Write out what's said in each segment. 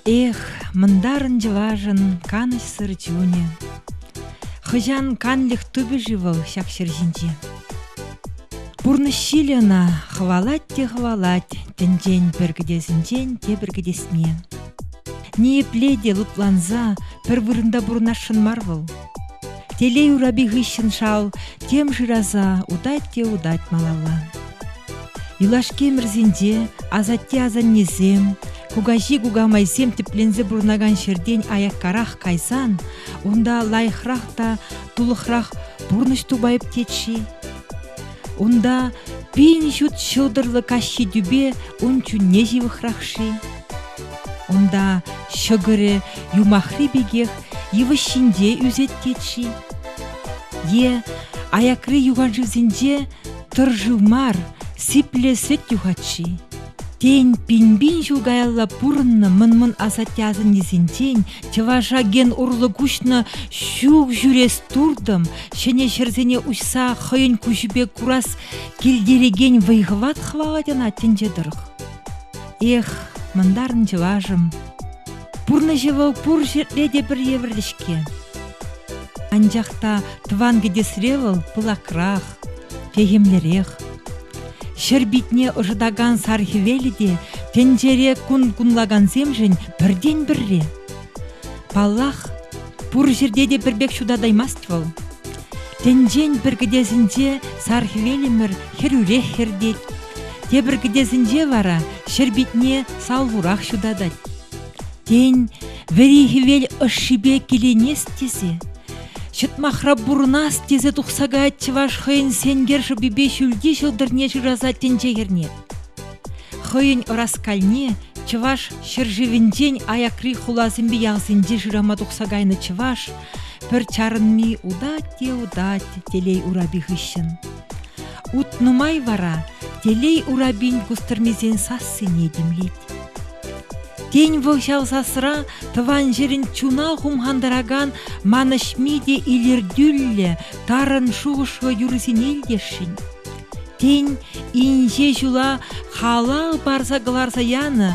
Эх, мындарын чӑвашӑн канӑҫсӑр чунӗ. Хӑҫан канлӗх тупӗ-ши вӑл ҫак ҫӗр ҫинче? Пурнӑҫ ҫилӗ ӑна хӑвалать те хӑвалать тӗнчен пӗр кӗтесӗнчен тепӗр кӗтесне. Ниепле те лӑпланса пӗр вырӑнта пурӑнасшӑн мар вӑл. Телей урапи хыҫҫӑн шал тем шыраса утать те утать малалла. Юлашки ӗмӗрсенче асатте-асаннесем, кукаҫи-кукамайсем тӗпленсе пурӑнакан ҫӗртен аяккарах кайсан унта лайӑхрах та тулӑхрах пурнӑҫ тупайӑп тет-ши? Унта пин ҫут ҫӑлтӑрлӑ каҫхи тӳпе ун чунне ҫывӑхрах-ши? Унта ҫӑкӑрӗ юмахри пекех йывӑҫ ҫинче ӳсет-тет-ши? Е аякри юханшывсенче тӑр шыв мар, сиплӗ сӗт юхать-ши? Тен, пин-пин ҫул каялла пурӑннӑ мӑн-мӑн асатте-асаннесенчен чӑваша ген урлӑ куҫнӑ ҫук ҫӳрес туртӑм, ҫӗнӗ ҫӗрсене уҫса хӑйӗн куҫӗпе курас килтерекен вӑй-хӑват хӑвалать ӑна тӗнче тӑрӑх. Эх, мӑнтарӑн чӑвашӑм, пурнӑҫӗ вӑл пур ҫӗрте те пӗр евӗрлӗ-ҫке. Анчах та тӑван кӗтесре вӑл пылакрах, Техӗмлӗрех. Ҫӗр питне ӑшӑтакан сар хӗвелӗ те тӗнчере кун кунлакансемшӗн пӗртен-пӗрре. Паллах, пур ҫӗрте те пӗр пек ҫутатаймасть вӑл. Тӗнчен пӗр кӗтесӗнче сар хӗвелӗмӗр хӗрӳрех хӗртет. Тепӗр кӗтесӗнче вара ҫӗр питне салхурах ҫутатать. Тен, вӗри хӗвел ӑшшипе киленес тесе Ҫӑтмахра пурӑнас тесе тухса каять чӑваш хӑйӗн сенкер шӑпипе ҫӳлти ҫӑлтӑрне шыраса тӗнче хӗрне. Хӑйӗн ӑраскальне чӑваш ҫӗршывӗнчен аякри хуласемпе ялсенче шырама тухса кайнӑ чӑваш пӗр чарӑнми утать те утать телей урапи хыҫҫӑн. Ут нумай вара телей урапин кустӑрмисен сассине тимлет. Тен, вӑл ҫав сасра тӑван ҫӗрӗн чуна хумхантаракан манӑҫми те илӗртӳллӗ, тарӑн шухӑшлӑ юрӑсене илтесшӗн. Тен, инҫе ҫула халал парса кӑларса янӑ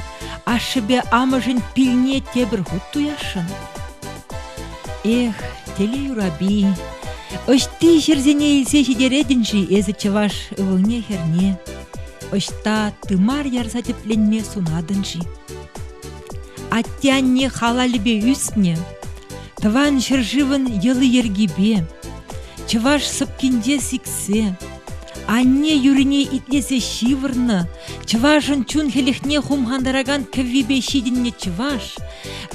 ашшӗпе амӑшӗн пилне тепӗр хут туясшӑн? Эх, телей урапи, ӑҫти ҫӗрсене илсе ҫитеретӗн-ши эсӗ чӑваш ывӑлне-хӗрне? Ӑҫта тымар ярса тӗпленме сунатӑн-ши? Атте-анне халалӗпе ӳснӗ, тӑван ҫӗршывӑн йӑли-йӗркипе, чӑваш сӑпкинче сиксе, анне юрине итлесе ҫывӑрнӑ, чӑвашӑн чун хӗлӗхне хумхантаракан кӗввипе ҫитӗннӗ чӑваш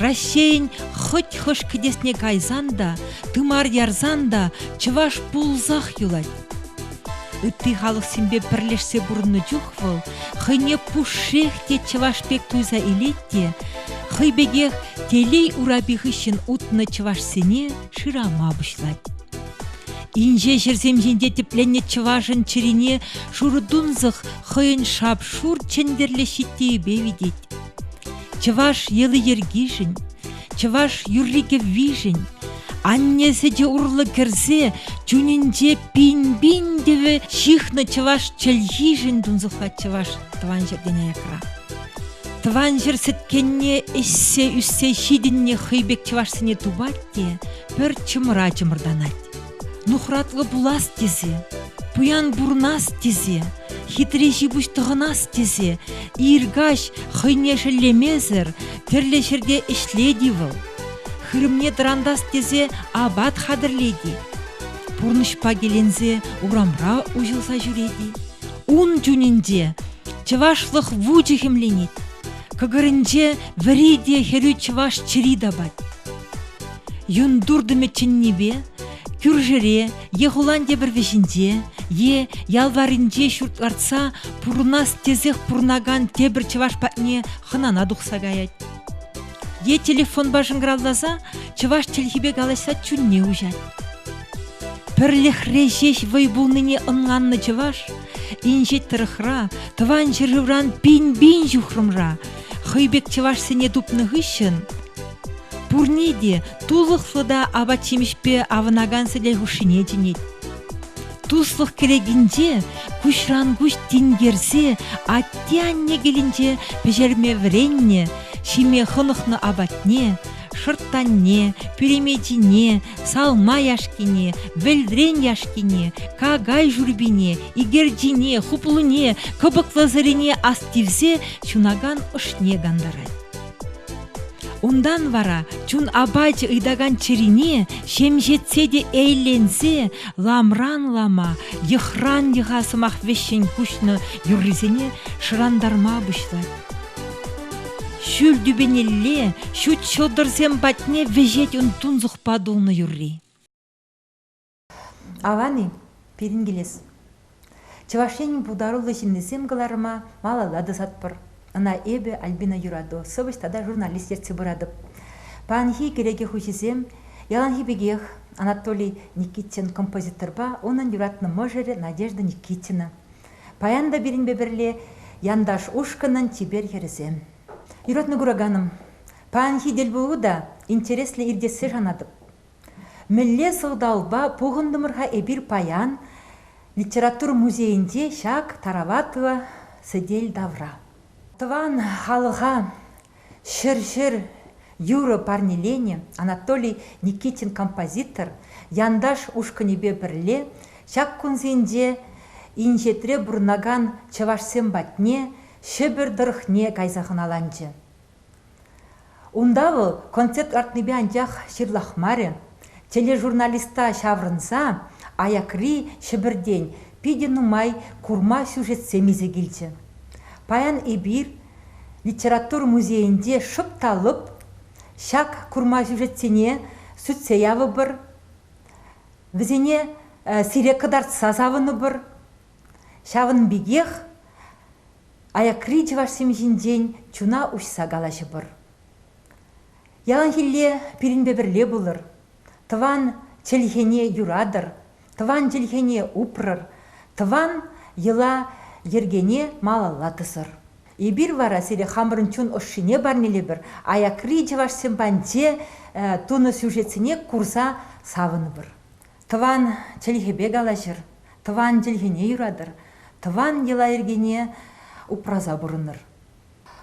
Раҫҫейӗн хӑть хӑш кӗтесне кайсан та, тымар ярсан та чӑваш пулсах юлать. Ытти халӑхсемпе пӗрлешсе пурӑннӑ чух вӑл хӑйне пушшех те чӑваш пек туйса илет те хӑй пекех телей урапи хыҫҫӑн утнӑ чӑвашсене шырама пуҫлать. Инҫе ҫӗрсем ҫинче тӗпленнӗ чӑвашӑн чӗрине шурӑ тунсӑх хӑйӗн шап-шур чӗнтӗрлӗ ҫиттийӗпе витет. Чӑваш йӑли-йӗркишӗн, Чӑваш юрри-кӗввишӗн анне сӗте урлӑ кӗрсе чунӗнче пин-пин тӗвӗ ҫыхнӑ чӑваш чӗлхишӗн тунсӑхлать чӑваш тӑван ҫӗртен аякра. Тӑван ҫӗр сӗткенне ӗҫсе ӳссе ҫитӗннӗ хӑй пек чӑвашсене тупать те пӗр чӑмӑра чӑмӑртанать. нухратлӑ пулас тесе, пуян пурнас тесе, хитре ҫипуҫ тӑхӑнас тесе, ир каҫ хӑйне шеллемесӗр тӗрлӗ ҫӗрте ӗҫлет-и вӑл, хырӑмне тӑрантас тесе апат хатӗрлет-и, пурнӑҫпа киленсе урамра уҫӑлса ҫӳрет-и, ун чунӗнче чӑвашлӑх вучӗ хӗмленет, кӑкӑрӗнче вӗри те хӗрӳ чӑваш чӗри тапать. юн туртӑмӗ чӗннипе кӳршӗре е хулан тепӗр вӗҫӗнче е ял варринче ҫурт лартса пурӑнас тесех пурӑнакан тепӗр чӑваш патне хӑнана тухса каять. Е телефонпа шӑнкӑравласа чӑваш чӗлхипе калаҫса чунне уҫать. Пӗрлӗхре ҫеҫ вӑй пулнине ӑнланнӑ чӑваш инҫет тӑрӑхра, тӑван ҫӗршывран пин-пин ҫухрӑмра хӑй пек чӑвашсене тупнӑ хыҫҫӑн Пурне те тулӑхлӑ та апат-ҫимӗҫпе авӑнакан сӗтел хушшине чӗнет. Туслӑх кӗлетинче куҫран-куҫ тинкерсе атте-анне килӗнче пӗҫерме вӗреннӗ, ҫиме хӑнӑхнӑ апатне, шӑрттанне, пӳлемечине, салма яшкине, вӗлтрен яшкине, какай шӳрпине, икерчине, хуплуне, кӑпӑклӑ сӑрине астивсе ҫунакан ӑшне кантарать. Унтан вара чун апачӗ ыйтакан чӗрине ҫемҫетсе те эйленсе ламран-лама йӑхран йӑха сӑмах вӗҫҫӗн куҫнӑ юррисене шӑрантарма пуҫлать. Ҫӳл тӳпенелле ҫут ҫӑлтӑрсем патне вӗҫет ун тунсӑхпа тулнӑ юрри. Аван-и пирӗн килес? Чӑваш Енӗн пултаруллӑ ҫыннисем кӑларӑма малалла тӑсатпӑр. Ӑна эпӗ, Альбина Юрату, сӑвӑҫ тата журналист ертсе пыратӑп. Паянхи кӗнеке хуҫисем яланхи пекех Анатолий Никитин композиторпа унӑн юратнӑ мӑшӑрӗ Надежда Никитина. Паян та пирӗнпе пӗрле янташ ушкӑнӑн чипер хӗрӗсем. Юратнӑ кураканӑм, паянхи тӗлпулу та интереслӗ иртессе шанатӑп. Мӗнле сӑлтавпа пухӑнтӑмӑр-ха эпир паян литература музейӗнче ҫак тараватлӑ сӗтел тавра? Тӑван халӑха ҫӗр-ҫӗр юрӑ парнеленӗ Анатолий Никитин композитор Янташ ушкӑнӗпе пӗрле ҫак кунсенче инҫетре пурӑнакан чӑвашсем патне, Ҫӗпӗр тӑрӑхне кайса хӑналанчӗ. Унта вӑл концерт лартнипе анчах ҫырлахмарӗ, тележурналиста ҫаврӑнса аякри Ҫӗпӗртен питӗ нумай курма сюжетсем илсе килчӗ. Паян эпир литература музейӗнче шӑп та лӑп ҫак курма сюжетсене сӳтсе явӑпӑр, вӗсене сире кӑтартса савӑнӑпӑр. Ҫавӑн пекех аякри чӑвашсем ҫинчен чуна уҫса калаҫӑпӑр. Яланхилле пирӗнпе пӗрле пулӑр, тӑван чӗлхене юратӑр, тӑван чӗлхене упрӑр, тӑван йӑла-йӗркене малалла тӑсӑр. Эпир вара сире хамӑрӑн чун ӑшшине парнелепӗр, аякри чӑвашсем панче тунӑ сюжетсене курса савӑнӑпӑр. Тӑван чӗлхепе калаҫӑр, тӑван чӗлхене юратӑр, тӑван йӑла-йӗркене упраса пурӑнӑр.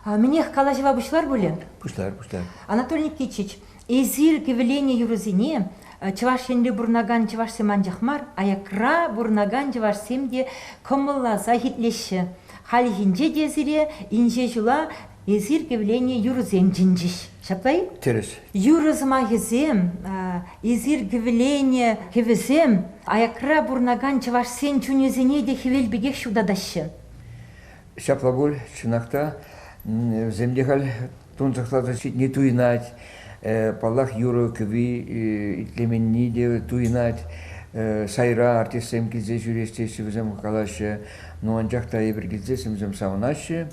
Мӗнех калаҫӑва пуҫлар пулӗ? Пуҫлар, пуҫлар. Анатолий Никитич, эсир кӗвӗленӗ юрӑсене Чӑваш Енре пурӑнакан чӑвашсем анчах мар, аякра пурӑнакан чӑвашсем те кӑмӑлласах итлеҫҫӗ. Хальхинче те сире инҫе ҫула Эсир кивлене юрӑсем чӗнчӗҫ, ҫапла-и? Тӗрӗс. Юрӑ сӑмахӗсем, эсир кивлене кӗвӗсем аякра пурӑнакан чӑвашсен чунӗсене те хӗвел пекех ҫутатаҫҫӗ. Ҫапла пуль. Чӑнах та, вӗсем те халь тунсӑхласа ҫитни туйӑнать. Паллах, юрӑ-кӗвви итлеменни те туйӑнать. Сайра артистсем килсе ҫӳрес теҫҫӗ, вӗсем калаҫҫӗ. Ну, анчах та эпир килсе семсем савӑнаҫҫӗ.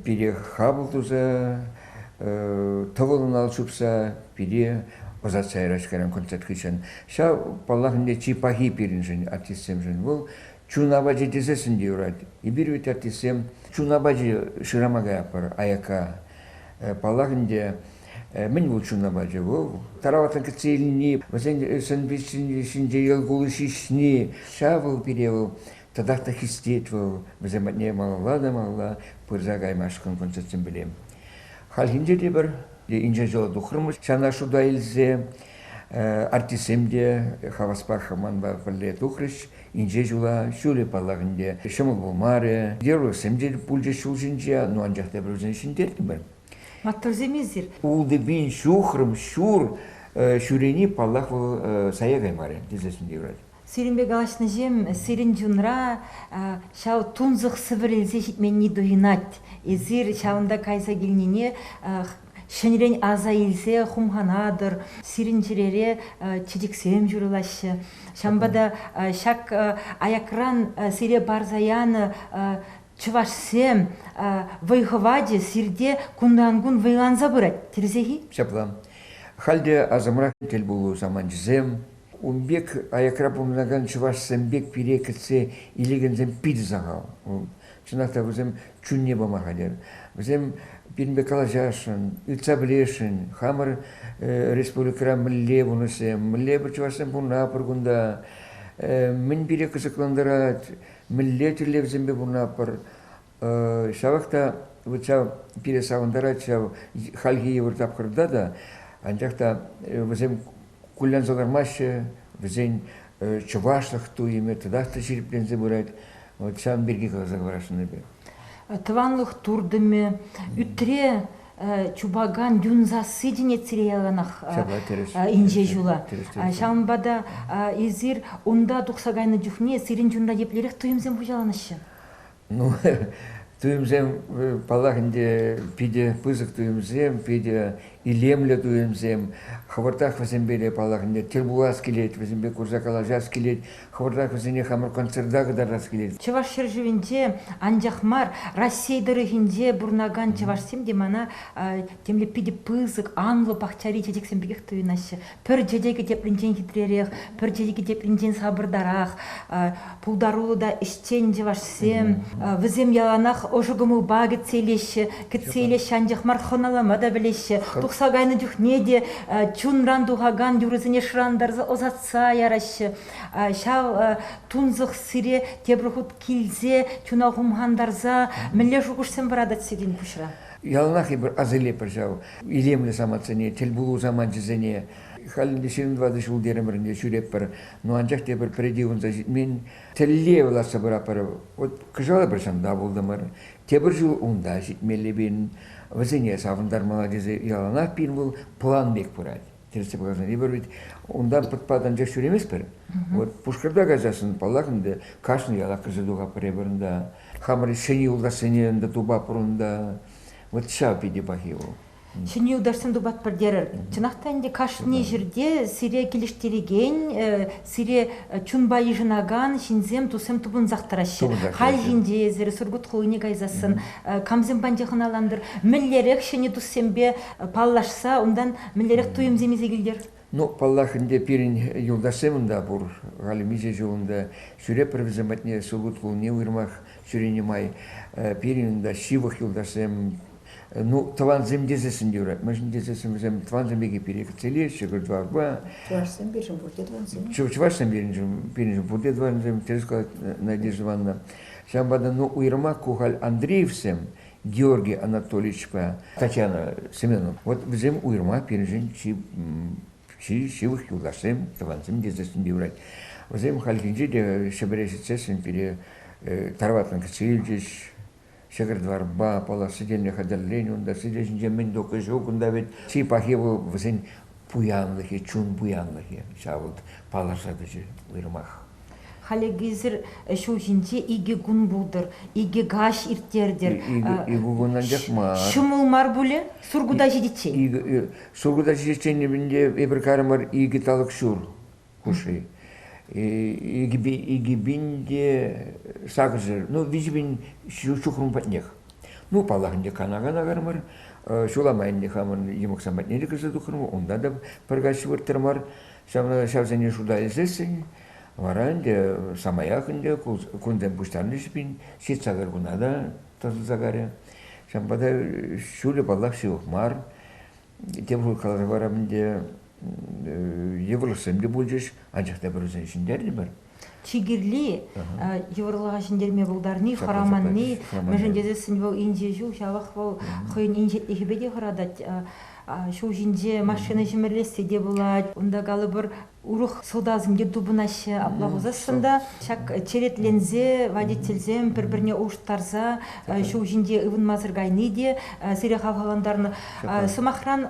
пире хапӑл туса, тӑвӑлӑн ал чупса пире ӑсатса ярать кайран концерт хыҫҫӑн. Ҫав, паллах, ӗнтӗ чи пахи пирӗншӗн, артистсемшӗн. Вӑл чун апачӗ тесессӗн те юрать. Эпир вӗт артистсем чун апачӗ шырама каятпӑр аякка. Паллах ӗнтӗ, мӗн вӑл чун апачӗ? Вӑл тараватлӑн кӗтсе илни, вӗсен сӑн-пичӗ ҫинче йӑл кулӑ ҫиҫни, ҫав вӑл пире вӑл Татах та хистет вӑл, вӗсем патне малалла та малалла пырса каймашкӑн концертсем пӗлем. Хальхинче те пӗр инҫе ҫула тухрӑмӑр ҫана шута илсе. Артистсем те хаваспах манпа пӗрле тухрӗҫ. Инҫе ҫула ҫулӗ паллахӗнте ҫӑмӑл пулмарӗ. Геройсем те пулчӗҫ ҫул ҫинче, ну анчах та эпир вӗсене ҫӗнтертӗмӗр. Маттурсем эсир. Ултӑ пин ҫухрӑм ҫур ҫӳрени, паллах, вӑл сая каймарӗ тесе сисме юрать. Сирӗнпе калаҫнӑҫем сирӗн чунра ҫав тунсӑх сӗвӗрӗлсе ҫитменни туйӑнать. Эсир ҫавӑнта кайса килнине ҫӗнӗрен аса илсе хумханатӑр. Сирӗн чӗрере чечексем ҫурӑлаҫҫӗ. Ҫавӑнпа та ҫак аякран сире парса янӑ чӑвашсем вӑй-хӑвачӗ сирте кунран-кун вӑйланса пырать, тӗрсех-и? Ҫапла. Халь те асӑмра тӗл пулу саманчӗсем, Ун пек аякра пурӑнакан чӑвашсем пек пире кӗтсе илекенсем питӗ сахал. Чӑнах та вӗсем чунне пама хатӗр. Вӗсем пирӗнпе калаҫасшӑн, ыйтса пӗлесшӗн. Хамӑр республикӑра мӗнле пурнӑҫсем, мӗнле чӑвашсем пурӑнма пӗр кунта, мӗн пире кӑсӑклантарать, мӗнле тӗллевсемпе пурӑнатпӑр. Ҫавах та вот ҫав пире савӑнтарать ҫав хальхи йывӑр тапхӑрта та. Анчах та вӗсем кулленсе каймаҫҫӗ, вӗсен чӑвашлӑх туйӑмӗ татах та ҫирӗпленсе пырать. Вот ҫавӑн пирки каласа хӑварасшӑн эпӗ. Тӑванлӑх туртӑмӗ, ӳтре чупакан юн сасси те нецере яланах инҫе ҫула. Ҫавӑнпа та эсир унта тухса кайнӑ чухне сирӗн чунра еплерех туйӑмсем хуҫаланаҫҫӗ? Ну, туйӑмсем, паллах, ӗнтӗ питӗ пысӑк туйӑмсем, питӗ илемлӗ туйӑмсем. Хӑвӑртах вӗсемпе, паллах, ӗнтӗ тӗл пулас килет, вӗсемпе курса калаҫас килет, хӑвӑртах вӗсене хамӑр концерта кӑтартас килет. Чӑваш ҫӗршывӗнче анчах мар, Раҫҫей тӑрӑхӗнче пурӑнакан чӑвашсем те мана темле питӗ пысӑк, анлӑ пахчари чечексем пекех туйӑнаҫҫӗ. Пӗр чечекӗ тепринчен хитререх, пӗр чечекӗ тепринчен сапӑртарах. Пултаруллӑ та ӗҫчен чӑвашсем. Вӗсем яланах ӑшӑ кӑмӑлпа кӗтсе илеҫҫӗ, кӗтсе илеҫҫӗ, анчах мар хӑнӑлама та пӗлеҫҫӗ. Тухса кайнӑ чухне те чунран тухакан юрӑсене шӑрантарса ӑсатса яраҫҫӗ. Ҫав тунсӑх сире тепӗр хут килсе чуна хумхантарса мӗнле шухӑшсем пӑратать сирӗн пуҫра? Яланах эпир асилетпӗр ҫав илемлӗ самантсене, тӗлпулу саманчӗсене. Халь ӗнтӗ ҫирӗм тӑватӑ ҫул терӗмӗрӗнче ҫӳретпӗр, ну анчах тепӗр пӗрре ывӑнса ҫитмен тӗллев лартса пыратпӑр. Вӑт кӑҫал эпир ҫамта пултӑмӑр, тепӗр ҫул унта ҫитмелле пирӗн. Вӗсене савӑнтармалла тесе яланах пирӗн вӑл план пек пырать. ертсе пыракансем эпир ведь унта пӑтпат анчах ҫӳреместпӗр. Вот Пушкӑрта каясассӑн, паллах, ӗнтӗ кашни ялах кӗрсе туха пӗрре пӗринта. Хамӑр Ҫӗнӗ юлташсене ӗнтӗ тупа пурӑнта. Вот ҫав питӗ пахи вӑл. Ҫӗнӗ юлташсем тупатпӑр терӗр. Чӑнах та ӗнтӗ кашни ҫӗрте сире килӗштерекен, Сире чунпа йышӑнакан ҫынсем, туссем тупӑнсах тӑраҫҫӗ. Халь ҫинче эсир Сургут хулине кайсассӑн камсем панча хӑналантӑр? Мӗнлерех ҫӗнӗ туссемпе паллашса унтан мӗнлерех туйӑмсем илсе килтӗр? Ну, паллах ӗнтӗ, пирӗн юлташсем унта пур. Халӗ миҫе ҫул унта ҫӳрепӗр вӗсем патне Сургут хулине уйрӑмах ҫӳренӗ май. Пирӗн унта ҫывӑх юлташсем Ну, тӑвансем тесессӗн юрать. Мӗншӗн тесессӗн вӗсем тӑвансем пирки пире кӗтсе илеҫҫӗ Кӗлтуарпа. Чӑвашсем пирӗн пурте тӑвансем. Чӑвашсем пирӗн, пирӗн пурте тӑвансем, терӗ сказать Надежда Ивановна. Ҫавӑнпа та ну уйрӑмах ку халь Андреевсем Георгий Анатольевичпа Татьяна Семеновна, вот вӗсем уйрӑмах пирӗншӗн чи, чи ҫывӑх юлташсем, тӑвансем тесессӗн юрать. Вӗсем хальхинче те Ҫӗпӗре ҫитсессӗн пире Тарватан кӗтсе илчӗҫ, Ҫӗкӗр-дварпа паллашекенне хатӗррен унта сире ҫинче мӗн тухнӑ ҫук, унта вӗт чи пахи вӑл вӗсен пуянлӑхӗ, чун пуянлӑхӗ. Ҫав вӑл паллаша тӑчӗ уйрӑмах. Халӗхисӗр ҫулхинче икӗ кун пултӑр, икӗ каҫ ирттертӗр. Икӗ кун анчах мар. Ҫӑмӑл мар пулӗ Сургута ҫитиччен? Сургута ҫитиччен эпӗ ӗпӗр карӑмӑр икӗ талӑк ҫур. хуши. Икӗ пин те сакӑршер, ну, виҫӗ пин ҫухрӑм патнех. Ну, паллах, ӗнтӗ кана-кана кармар, ҫула майӑнне хамӑн йӑмӑксам патне те кӗрсе тухрӑмӑр, унта та пӗр каҫ вырттӑрмар, ҫавна ҫавсене шута илсессӗн, вара ӗнтӗ самаях ӗнтӗ кунсем пуҫтарӑнчӗҫ пин, ҫитсакӑр куна та тӑсӑлса карӗ. Ҫавӑнпа та ҫулӗ, паллах, ҫывӑх мар. тепӗр хут каларӗ вара ӗнтӗ йывӑрлӑхсем те пулчӗҫ, анчах та пӗрусем ҫӗнтернӗпӗр. Чи кирли йывӑрлӑха ҫӗнтерме пултарни, хӑраманни, мӗншӗн тесессӗн вӑл инҫе ҫул ҫавах вӑл хӑйӗн инҫетлӗхӗпе те хӑратать. Ҫул ҫинче машина ҫӗмӗрлессе те пулать. Унта калӑпӑр Урӑх сӑлтавсемпе тупӑнаҫҫӗ апла пулсассӑн та. Ҫак черетленсе водительсем пӗр-пӗрне улӑштарса ҫул ҫинче ывӑнмасӑр кайни те сире хавхалантарнӑ. Сӑмахран,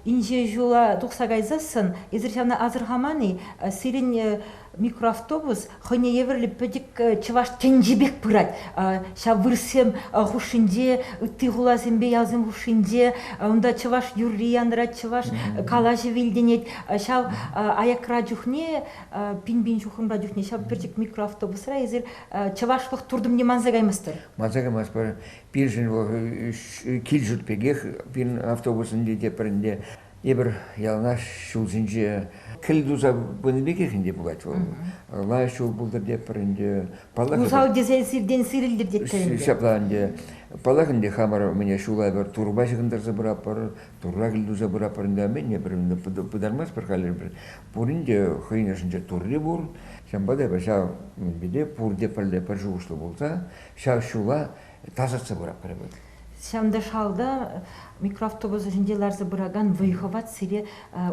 инҫе ҫула тухса кайсассӑн эсир ҫавна асӑрхаман-и, сирӗн микроавтобус хӑйне евӗрлӗ пӗчӗк чӑваш тӗнчи пек пырать. Ҫав вырӑссем хушшинче, ытти хуласемпе ялсем хушшинче, унта чӑваш юрри янрать, чӑваш калаҫӑвӗ илтӗнет. Ҫав аякра чухне, пин-пин ҫухрӑмра чухне ҫав пӗчӗк микроавтобусра эсир чӑвашлӑх туртӑмне манса каймастӑр. Манса каймастпӑр. Пиршӗн вӑл кил ҫурт пекех, пин автобусӑн те пӗринде Эпир яланах ҫулсенче кӗл туса пынӑ пекех ӗнтӗ пулать вӑл. Лайӑх ҫул пултӑр тепӗр ӗнтӗ. Паллах. Усал тесен сиртен сирӗлтӗр тетпӗр ӗнтӗ. Ҫапла ӗнтӗ. Паллах ӗнтӗ хамӑр мӗне ҫула пӗр турпа ҫыхӑнтарса пыратпӑр, турра кӗл туса пыратпӑр ӗнтӗ. Мӗне пӗр пытармастпӑр халӗ пӗр. Пурин те хӑйӗн ӑшӗнче турри пур. Ҫавӑнпа та эпир ҫав пурте пӗрле пӗр шухӑшлӑ пулса ҫав ҫула тасатса пыратпӑр эпир. Ҫантӑшалта микроавтобуса ҫинче ларса пыракан вӑй-хӑват сире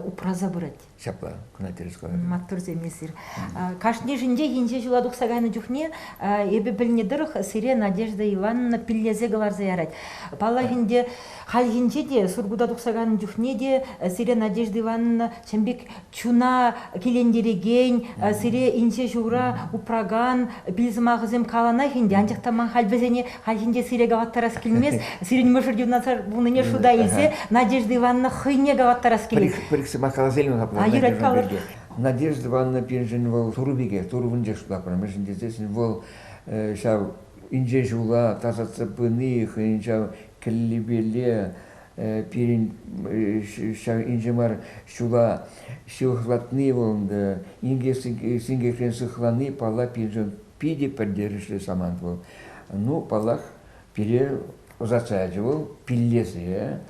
упраса пырать. Ҫапла, кӑна тӗрӗс калатӑр. Маттурсем эсир. Кашнишӗнчех инҫе ҫула тухса кайнӑ чухне эпӗ пӗлнӗ тӑрӑх сире Надежда Ивановна пиллесе кӑларса ярать. Паллах ӗнтӗ, хальхинче те Сургута тухса кайнӑ чухне те сире Надежда Ивановна Чӑн пек чуна килентерекен, сире инҫе ҫура упракан пил сӑмахӗсем каланах ӗнтӗ, анчах та ман халь вӗсене хальхинче сире калаттарас килмест. Сирӗн мӑшӑр юнашар пулнине шута илсе Надежда Ивановна хӑйне калаттарас килет. Пӗр-ик сӑмах калас илмен апла Надежда пирки. Надежда Ивановна пирӗншӗн вӑл Турӑ пекех, Турӑ вунчеш тапрӑм. Мӗншӗн тесен вӑл ҫав инҫе ҫула тасатса пыни хӑйӗн ҫав кӗллипелле пирӗн ҫав инҫе мар ҫула сыхлатни вӑл ӗнтӗ инке синкекрен сыхлани палла пирӗншӗн питӗ пӗлтерӗшлӗ самант вӑл. Ну, паллах, пире ӑсатса ячӗ вӑл пиллесе.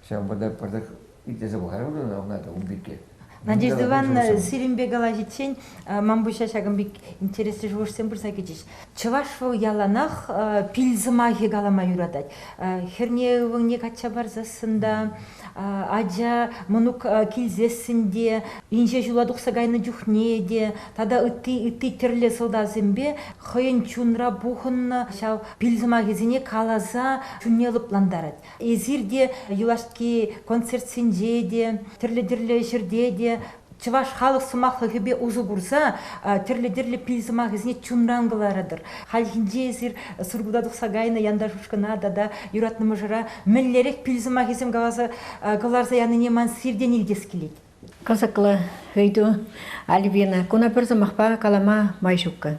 Ҫавӑнпа та пӑртак итлесе пӑхарӑмӑр ӑна ун пирки. Надежда Ивановна сирӗнпе калаҫиччен ман пуҫа ҫакӑн пек интереслӗ шухӑшсем пырса кӗчӗҫ. Чӑваш вӑл яланах пил сӑмахӗ калама юратать. Хӗрне ывӑлне качча парсассӑн та, ача мӑнук килсессӗн те, инҫе ҫула тухса кайнӑ чухне те тата ытти ытти тӗрлӗ сӑлтавсемпе хӑйӗн чунра пухӑннӑ ҫав пил сӑмахӗсене каласа чунне лӑплантарать. Эсир те юлашки концертсенче те, тӗрлӗ-тӗрлӗ ҫӗрте те чӑваш халӑх сӑмахлӑхӗпе усӑ курса тӗрлӗ-тӗрлӗ пил сӑмахӗсене чунран кӑларатӑр. Хальхинче эсир Сургута тухса кайнӑ янташ ушкӑна тата юратнӑ мӑшӑра мӗнлерех пил сӑмахӗсем каласа кӑларса янине ман сиртен илтес килет. Кӑсӑклӑ ыйту, Альбина. Куна пӗр сӑмахпа калама май ҫуккӑ.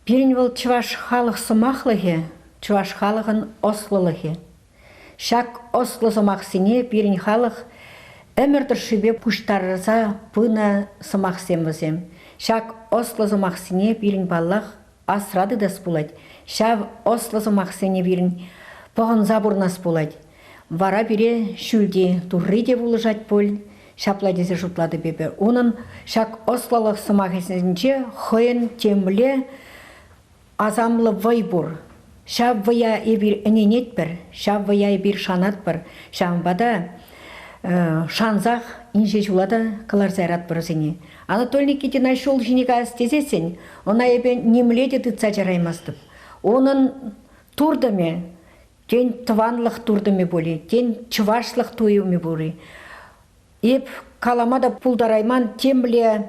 Пирӗн вӑл чӑваш халӑх сӑмахлӑхӗ, чӑваш халӑхӑн ӑслӑлӑхӗ. Ҫак ӑслӑ сӑмахсене пирӗн халӑх ӗмӗр тӑршшӗпе пуҫтарса пынӑ сӑмахсем вӗсем. Ҫак ӑслӑ сӑмахсене пирӗн, паллах, асра тытас пулать, ҫав ӑслӑ сӑмахсене пирӗн пӑхӑнса пурӑнас пулать. Вара пире ҫӳлти Турри те пулӑшать пуль, ҫапла тесе шутлатӑп эпӗ. Унӑн ҫак ӑслӑлӑх сӑмахӗсенче хӑйӗн темле асамлӑ вӑй пур. Ҫав вӑя эпир ӗненетпӗр, ҫав вӑя эпир шанатпӑр. Ҫавӑнпа та шансах инҫе ҫула та кӑларса яратпӑр вӗсене. Анатолий Никитина ҫул ҫине каяс тесессӗн она эпӗ нимле те тытса чараймастӑп. Унӑн туртӑмӗ, тен, тӑванлӑх туртӑмӗ пулӗ, тен, чӑвашлӑх туйӑмӗ пулӗ. Эп калама та пултарайман темле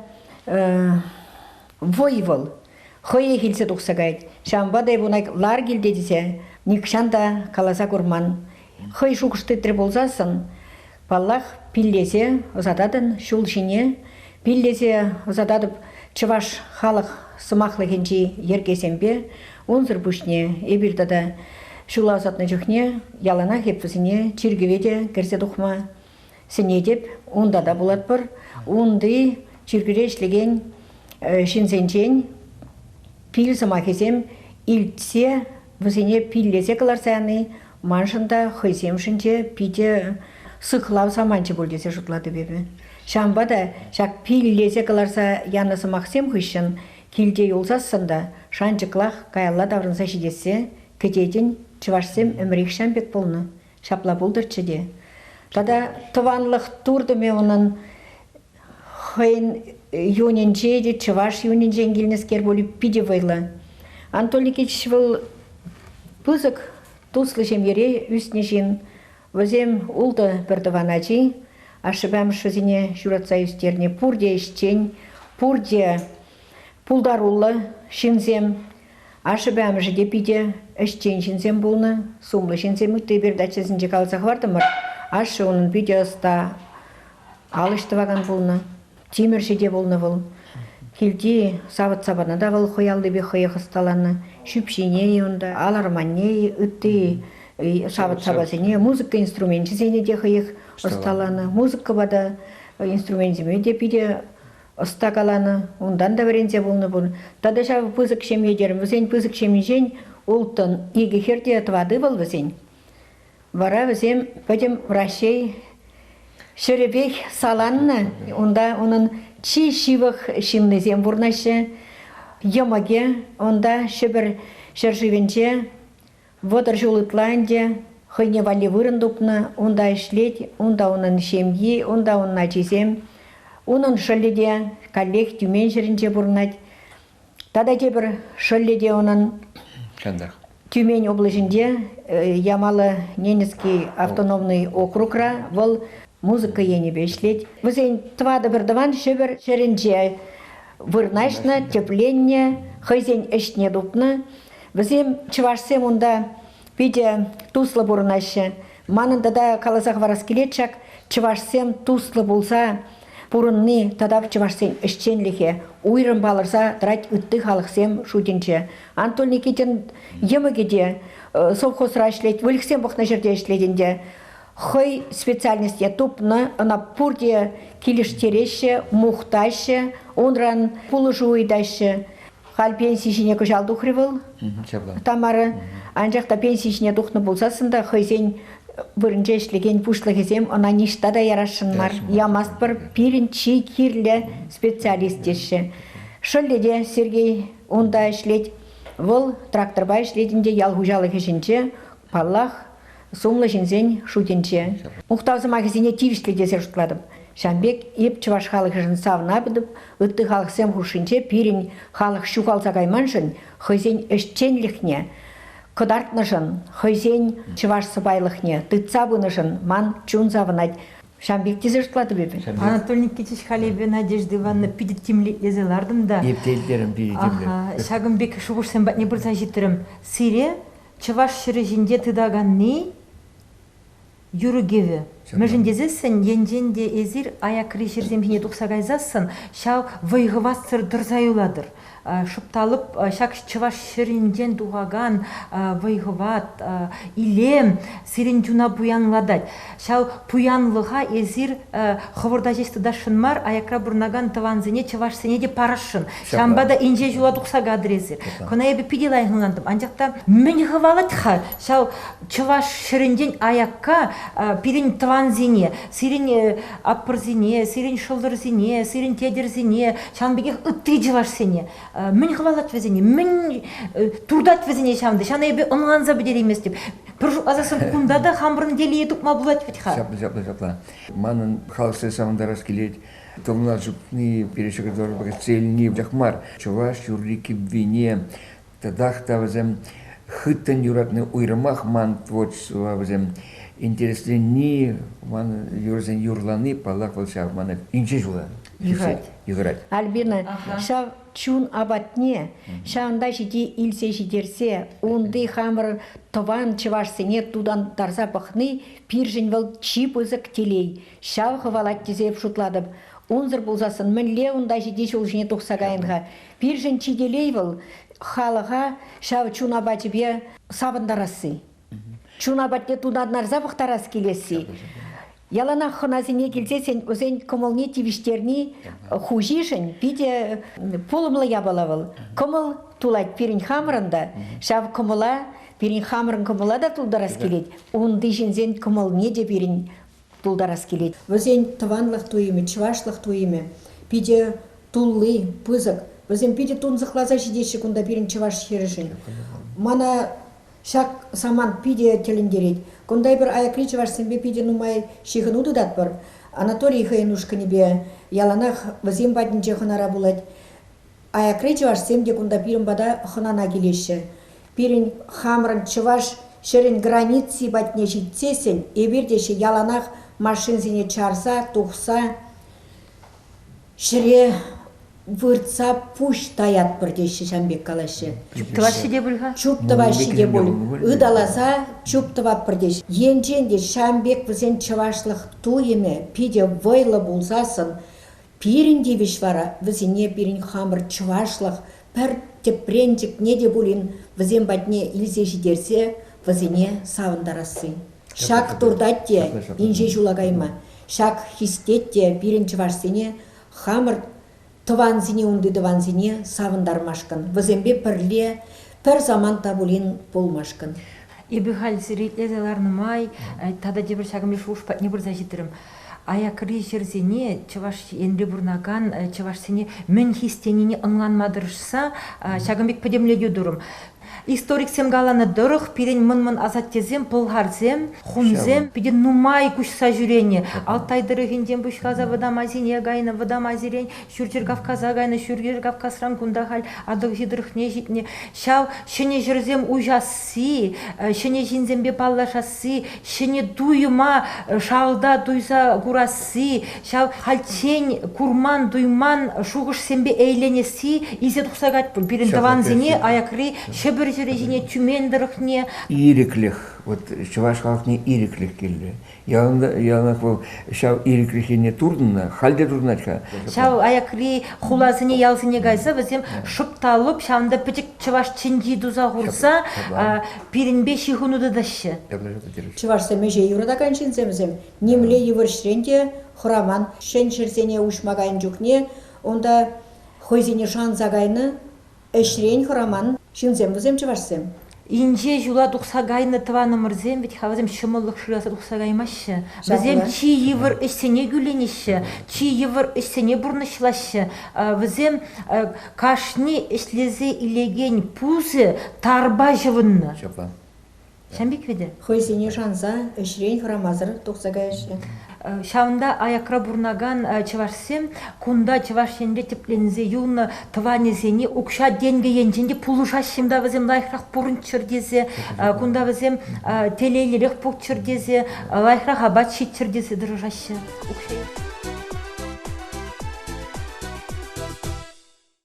вӑй вӑл хӑех илсе тухса каять. Ҫавӑнпа та эп ун лар килте тесе нихҫан та каласа курман. Хӑй шухӑш тытрӗ пулсассӑн, паллах, пиллесе ӑсататӑн ҫул ҫине, пиллесе ӑсататӑп чӑваш халӑх сӑмахлӑхӗнчи йӗркесемпе. Унсӑр пуҫне эпир тата ҫула ӑсатнӑ чухне яланах эп вӗсене чиркӗве те кӗрсе тухма Сӗнетӗп, унта та пулатпӑр. Унти чиркӳре ӗҫлекен ҫынсенчен пил сӑмахӗсем илтсе, вӗсене пиллесе кӑларса яни маншӑн та, хӑйсемшӗн те питӗ сыхлав саманчӗ пуль тесе шутлатӑп эпӗ. Ҫавӑнпа та ҫак пиллесе кӑларса янӑ сӑмахсем хыҫҫӑн килте юлсассӑн та шанчӑклах каялла таврӑнса ҫитессе кӗтетӗн. Чӑвашсем ӗмӗрехҫан пек пулнӑ, Ҫапла пултӑрччӗ те. Тата тӑванлӑх туртӑмӗ унӑн хӑйӗн юнӗнче те, чӑваш юнӗнчен килнӗскер пуль питӗ вӑйлӑ. Анатоликич вӑл пысӑк туслӑ ҫемьере ӳснӗ ҫын. Вӗсем ултӑ пӗр тӑван ачи. Ашшӗпе-амӑшӗсене ҫуратса ӳстернӗ пурте ӗҫчен, пурте пултаруллӑ ҫынсем. Ашшӗпе амӑшӗ те питӗ ӗҫчен ҫынсем пулнӑ. Сумлӑ ҫынсем ытти передачӑсенче каласа хӑвартӑмӑр. Ашшӗ унӑн питӗ ӑста, ал ӗҫ тӑвакан пулнӑ. Тимӗрҫӗ те пулнӑ вӑл. Килти савӑт-сапана та вӑл хӑй аллипех хӑех ӑсталанӑ. Ҫӳпҫине-и унта, ал арманне-и, ытти савӑт-сапасене, музыка инструменчӗсене те хӑех ӑсталанӑ. Музыкӑпа та, инструменчӗсене те питӗ ӑста каланӑ, унтан та вӗренсе пулнӑ пуль. Тата ҫав пысӑк ҫемье терӗм. Вӗсен пысӑк ҫемйинчен улттӑн, икӗ хӗр те тӑватӑ ывӑл вӗсен. Вара вӗсем пӗтӗм Раҫҫей ҫӗрӗпех саланнӑ. Унта унӑн чи ҫывӑх ҫыннисем пурӑнаҫҫӗ. Йӑмӑкӗ унта Ҫӗпӗр ҫӗршывӗнче Вӑтӑр ҫул ытла ӗнтӗ хӑйне валли вырӑн тупнӑ. Унта ӗҫлет, унта унӑн ҫемйи, унта унӑн ачисем. Унӑн шӑллӗ те каллех Тюмень ҫӗрӗнче пурӑнать. Тата тепӗр шӑллӗ те унӑн Чантах. Тюмень облаҫӗнче Ямало Ненецкий автономный округра вӑл музыка енӗпе ӗҫлет. Вӗсен тӑватӑ пӗр тӑван Ҫӗпӗр ҫӗрӗнче вырнаҫнӑ, тӗпленнӗ, хӑйсен ӗҫне тупнӑ. Вӗсем, чӑвашсем унта питӗ туслӑ пурӑнаҫҫӗ. Манӑн тата каласа хӑварас килет ҫак, чӑвашсем туслӑ пулса пурӑнни тата чӑвашсен ӗҫченлӗхе уйрӑм палӑрса тӑрать ытти халӑхсем шутӗнче. Антон Никитин йӑмӑкӗ те э, совхозра ӗҫлет, выльӑхсем пӑхнӑ ҫӗрте ӗҫлет ӗнтӗ. Хӑй специальности тупнӑ, ӑна пурте килӗштереҫҫӗ, мухтаҫҫӗ, унран пулӑшу ыйтаҫҫӗ. Халь пенси ҫине кӑҫал тухрӗ вӑл ҫапла. Тамара. Анчах та пенси ҫине тухнӑ пулсассӑн та хӑйсен вырӑнче ӗҫлекен пуҫлӑхӗсем ӑна ниҫта та ярасшӑн мар. Ямастпӑр, пирӗн чи кирлӗ специалист теҫҫӗ. Шӑллӗ те Сергей унта ӗҫлет. Вӑл тракторпа ӗҫлет ӗнтӗ ял хуҫалӑх ӗҫӗнче. Паллах, сумлӑ ҫынсен шутӗнче. Мухтав сӑмахӗсене тивӗҫлӗ тесе шутлатӑп. Ҫавӑн пек эп чӑваш халӑхӗшӗн савӑнатӑп, ытти халӑхсем хушшинче пирӗн халӑх ҫухалса кайманшӑн, хӑйсен ӗҫченлӗхне кӑтартнӑшӑн, хӑйсен чӑваш сӑпайлӑхне тытса пынӑшӑн ман чун савӑнать. Ҫавӑн пек тесе шутлатӑп эпӗ. Анатолий Никитич халӗ Надежда Ивановна питӗ тимлӗ-илсе лартӑм та. Эп те илтерӗм пире тимлӗн. Ҫакӑн пек шухӑшсем патне пырса ҫитрӗм. Сире Чӑваш ҫӗрӗ ҫинче тытаканни, юрӑ-кӗвӗ. Мӗншӗн тесессӗн енчен те эсир аякри ҫӗрсем ҫине тухса кайсассӑн ҫав вӑй-хӑватсӑр тӑрса юлатӑр. Шупталӑп, ҫак чӑваш ҫӗрӗнчен тухакан вӑй-хӑват, илем сирӗн чуна пуянлатать. Ҫав пуянлӑха эсир хӑвӑрта ҫеҫ тытасшӑн мар, аякра пурӑнакан тӑвансене, чӑвашсене те парасшӑн. Ҫавӑнпа та инҫе ҫула тухса катӑр эсир. Кӑна эпӗ питӗ лайӑх ӑнлантӑм. Анчах та мӗн хӑвалать-ха ҫав чӑваш ҫӗрӗнчен аякка пирӗн тӑвансене, сирӗн аппӑрсене, сирӗн шӑлтӑрсене, сирӗн тетӗрсене, ҫавӑн пекех ытти чӑвашсене? мӗн хӑвалать вӗсене, мӗн туртать вӗсене ҫавӑн ҫавна эпӗ ӑнланса пӗтерейместӗп. Пӗр шутласассӑн кунта та хамӑрӑн телее тупма пулать вӗт-ха. Ҫапла, ҫапла, ҫапла. Манӑн халӑхсене савӑнтарас килет. Тӑвна чупни, перешега дорога цельни вӑтах мар. Чӑваш юрри-кӗввине татах та вӗсем хыттӑн юратни уйрӑмах ман творчество вӗсем интересленни, ман юрӑсен юрлани, паллах, вӑл ҫав мана инҫе ҫула Юхать. Юхать. Альбина, ҫав чун апатне ҫавӑнта ҫити илсе ҫитерсе унти хамӑр тӑван чӑвашсене тутантарса пӑхни пиршӗн вӑл чи пысӑк телей. Ҫав хӑвалать тесе шутлатӑп. Унсӑр пулсассӑн мӗнле унта ҫити ҫул ҫине тухса кайӑн-ха? Пиршӗн чи телей вӑл, халӑха ҫав чун апачӗпе савӑнтарасси. Чуна патне тунарнарса пӑхтарас килесси. Яланах хӑнасене килсессӗн вӗсен кӑмӑлне тивӗҫтерни хуҫишӗн питӗ пулӑмлӑ япала вӑл. Кӑмӑл тулать пирӗн хамӑрӑн та. Ҫав кӑмӑла, пирӗн хамӑрӑн кӑмӑла та тултарас килет. Унти ҫынсен кӑмӑлне те пирӗн тултарас килет. Вӗсен тӑванлӑх туйӑмӗ, чӑвашлӑх туйӑмӗ питӗ тулли, пысӑк. Вӗсем питӗ тунсӑхласа ҫитеҫҫӗ кунта пирӗн чӑваш хӗрӗшӗн. Мана ҫак самант питӗ тӗлӗнтерет. Кунта эпир аякри чӑвашсемпе питӗ нумай ҫыхӑну тытатпӑр. Анатолий хӑйӗн ушкӑнӗпе яланах вӗсем патӗнче хӑнара пулать. Аякри чӑвашсем те кунта пирӗн пата хӑнана килеҫҫӗ. Пирӗн хамӑрӑн чӑваш ҫӗрӗн граници патне ҫитсессӗн эпир те яланах машинсене чарса, тухса ҫӗре выртса пуҫ таятпӑр теҫҫӗ ҫам пек калаҫҫӗ. Чуп тӑваҫҫӗ те пуль-ха? Чуп тӑваҫҫӗ те пуль. Ыталаса чуп тӑватпӑр теҫ. Енчен те ҫам пек вӗсен чӑвашлӑх туйӑмӗ питӗ вӑйлӑ пулсассӑн Пирӗн тивӗҫ вара вӗсене пирӗн хамӑр чӑвашлӑх пӗр тӗпренчӗкне те пулин вӗсем патне илсе ҫитерсе вӗсене савӑнтарасси. Ҫак туртать те инҫе ҫула кайма, ҫак хистет те пирӗн чӑвашсене хамӑр тӑвансене унти тӑвансене савӑнтармашкӑн, вӗсемпе пӗрле Пӗр самант та пулин пулмашкӑн. Эпӗ халь сире итлесе ларнӑ май тата тепӗр ҫакӑн пек шухӑш патне пырса ҫитрӗм. Аякри ҫӗрсене Чӑваш Енре пурӑнакан чӑвашсене мӗн хистенине ӑнланма тӑрӑшса ҫакӑн пек пӗтӗмлетӳ турӑм. Историксем каланӑ тӑрӑх пирӗн мӑн-мӑн асаттесем пӑлхарсем, хунсем питӗ нумай куҫса ҫӳренӗ. Алтай тӑрӑхӗнчен пуҫласа Вӑтам Азине кайнӑ Вӑтам Азирен Ҫурҫӗр Кавказа кайнӑ, Ҫурҫӗр Кавказран кунта халь Атӑлҫи тӑрӑхне ҫитнӗ. Ҫав ҫӗнӗ ҫӗрсем уҫасси, ҫӗнӗ ҫынсемпе паллашасси, ҫӗнӗ туйӑма шалта туйса курасси, ҫав хальччен курман-туйман шухӑшсемпе ейленесси илсе тухса кать пирӗн тӑвансене аякри Ҫӗпӗр ҫӗрӗ ҫине Тюмень тӑрӑхне. Ирӗклӗх, вот чӑваш халӑхне ирӗклӗх килрӗ. яланах вӑл ҫав ирӗклӗх енне туртӑннӑ, халь те туртӑнать-ха. Ҫав аякри хуласене, ялсене кайса вӗсем шӑп та лӑп ҫавӑнта пӗчӗк чӑваш чӗнчи туса хурса пирӗнпе ҫыхӑну тытаҫҫӗ. Чӑвашсем ӗҫе юратакан ҫынсем вӗсем нимле йывӑрҫрен те хӑраман. Ҫӗн ҫӗрсене уҫма кайнӑ чухне унта хӑйсене шанса кайнӑ, Ӗҫрен хӑраман ҫынсем вӗсем чӑвашсем. Инҫе ҫула тухса кайнӑ тӑванӑмӑрсем вӗт-ха вӗсем ҫӑмӑллӑх шыраса тухса каймаҫҫӗ. Вӗсем чи йывӑр ӗҫсене кӳленеҫҫӗ, чи йывӑр ӗҫсене пурнӑҫлаҫҫӗ. Вӗсем кашни ӗҫлесе илекен пусӗ тарпа ҫӑвӑннӑ. Ҫапла. Ҫампик вӗтӗ. Хӑйсене шанса, ӗҫрен хӑрамасӑр тухса каяҫҫӗ. Ҫавӑнта аякра пурӑнакан чӑвашсем кунта Чӑваш Енре тӗпленсе юлнӑ тӑванӗсене укҫа-тенкӗ енчен те пулӑшаҫҫӗ та вӗсем лайӑхрах пурӑнччӑр тесе, кунта вӗсем телейлӗрех пулччӑр тесе, лайӑхрах апат ҫиччӗр тесе тӑрӑшаҫҫӗ укҫа.